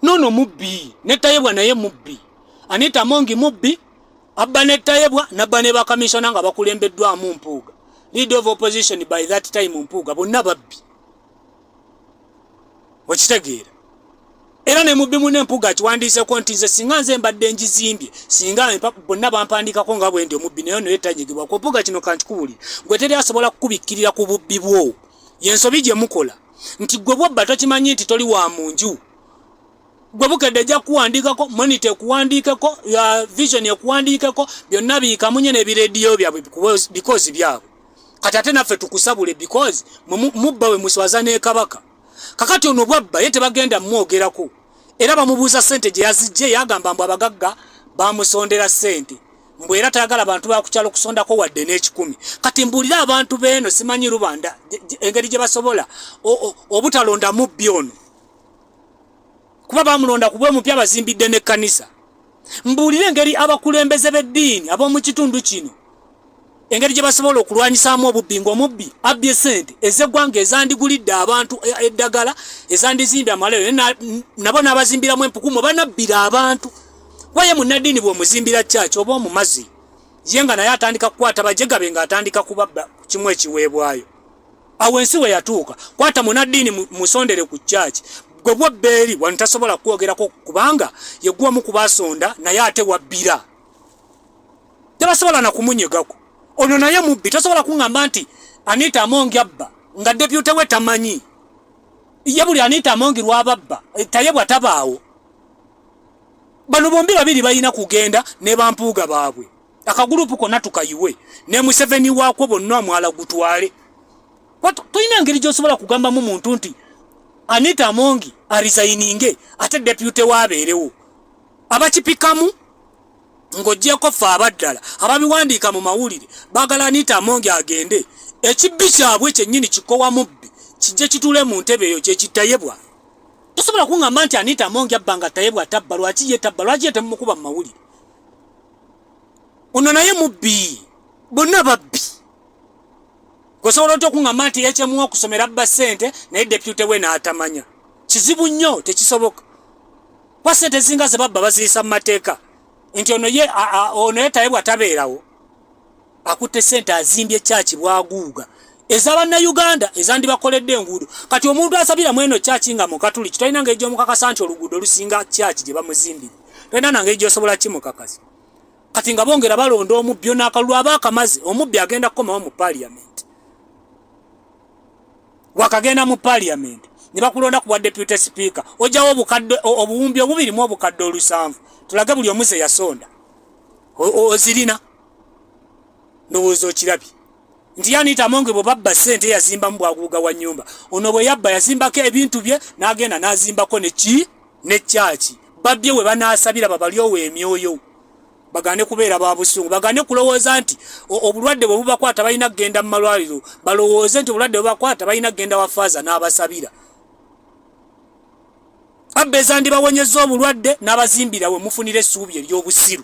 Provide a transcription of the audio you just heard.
nono mubbi netayebwa naye mubbi anita mongi mubbi abba netayebwa nabba ne bakamisona nga bakulembeddwamu mpuuga lead of opposition by that time mpuuga bonna babbi okitegeera era ne mubbi mune mpuuga akiwandiiseko nti nze singa nze mbadde njizimbye singa bonna bampandikako nga bwendi omubbi naye noye tanyigibwa ku mpuuga kino kankikubulire gwe teri asobola kukubikkirira ku bubbi bwo yensobi gye mukola nti gwe bwobba tokimanyi nti toli wa mu nju gwe bukedde ejja kukuwandiikako monita ekuwandiikeko vision ekuwandiikeko byonna biikamunye nebirediyo byabwe bikozi byabwe kati ate naffe tukusabule bikozi mubba we muswaza nekabaka kakati ono bwabba ye tebagenda mumwogerako era bamubuuza sente gyeyazijje yagamba mbu abagagga bamusondera sente mbu era tayagala bantu bakukyalo kusondako wadde n'ekikumi kati mbuulira abantu beeno simanyi lubanda engeri gye basobola obutalonda mubbi ono kuba bamulonda kubwe mupya bazimbidde n'ekkanisa mbuulire engeri abakulembeze b'eddiini ab'omu kitundu kino engeri gye basobola okulwanyisaamu obubbi ng'omubbi abbye sente ez'eggwanga ezandigulidde abantu e, eddagala ezandizimbye amalero nabo n'abazimbiramu empukumu banabbira abantu waye munnaddiini bw'omuzimbira kyaki oba omumazi ye nga naye atandika kukwata bajegabe ng'atandika kubabba kimu ekiweebwayo awo ensi we yatuuka kwata munnaddiini musondere ku kyaki gwe bwobbeeri wano tasobola kukwogerako kubanga yegwamu kubasonda naye ate wabbira tebasobola na kumunyegako ono naye mubbi tasobola kungamba nti anita amongi abba nga depute we tamanyi ye buli anita amongi lwababba eh, taye bwatabaawo bano bombi babiri balina kugenda ne bampuuga baabwe akagulupu kona tukayiwe ne museveni wakwo bonna amwala gutwale tulina engeri gyosobola kugambamu muntu nti anita amongi arizayininge ate depute wabeerewo abakipikamu ng'ogyeko ffe abaddala ababiwandiika mu mawulire bagala anita amonge agende ekibbi kyabwe kyennyini kikowa mubbi kijje kitule mu ntebe eyo kyekitayebwa tosobola kungamba nti anita amonge abba nga tayebwa tabba lwaki ye tabba lwaki ye temumukuba mu mawulire ono naye mubbi bonna babbi osobola otya okungamba nti ekyemuwa okusomera abba ssente naye depute we n'atamanya kizibu nnyo tekisoboka kuba sente ezinga zebabba baziyisa mu mateeka nti ono ye ono yetaye bwatabeerawo akutte sente azimbye kyaki bwaguuga eza bannayuganda ezandibakoledde enguudo kati omuntu asabira mweno kyaki nga mukatuli kitalina ngeri gyomukakasa nti oluguudo olusinga kyaki gye bamuzimbire talina nangeri gyosobola kimukakasa kati nga bongera balonda omubbi onaakalulu aba akamaze omubbi agenda kukomawo mu paliament wakagenda mu parliament ne bakulonda kuwa deputy speaker ojawo obukadde obuwumbi obubiri mu obukadde olusanvu tulage buli omuze yasonda ozirina ndowooza okirabye nti yanita amonge bwe babba ssente yazimbamu bwaguuga wa nyumba ono bwe yabba yazimbako ebintu bye n'agenda n'azimbako neki ne kyaki babbye we banaasabira babalyowo emyoyo bagane kubeera ba busungu bagane kulowooza nti obulwadde bwe bubakwata balina kugenda mu malwaliro balowooze nti obulwadde bubakwata balina kugenda wa faaza n'abasabira abba ezandibawonyeza obulwadde n'abazimbira we mufunira essuubi ery'obusiru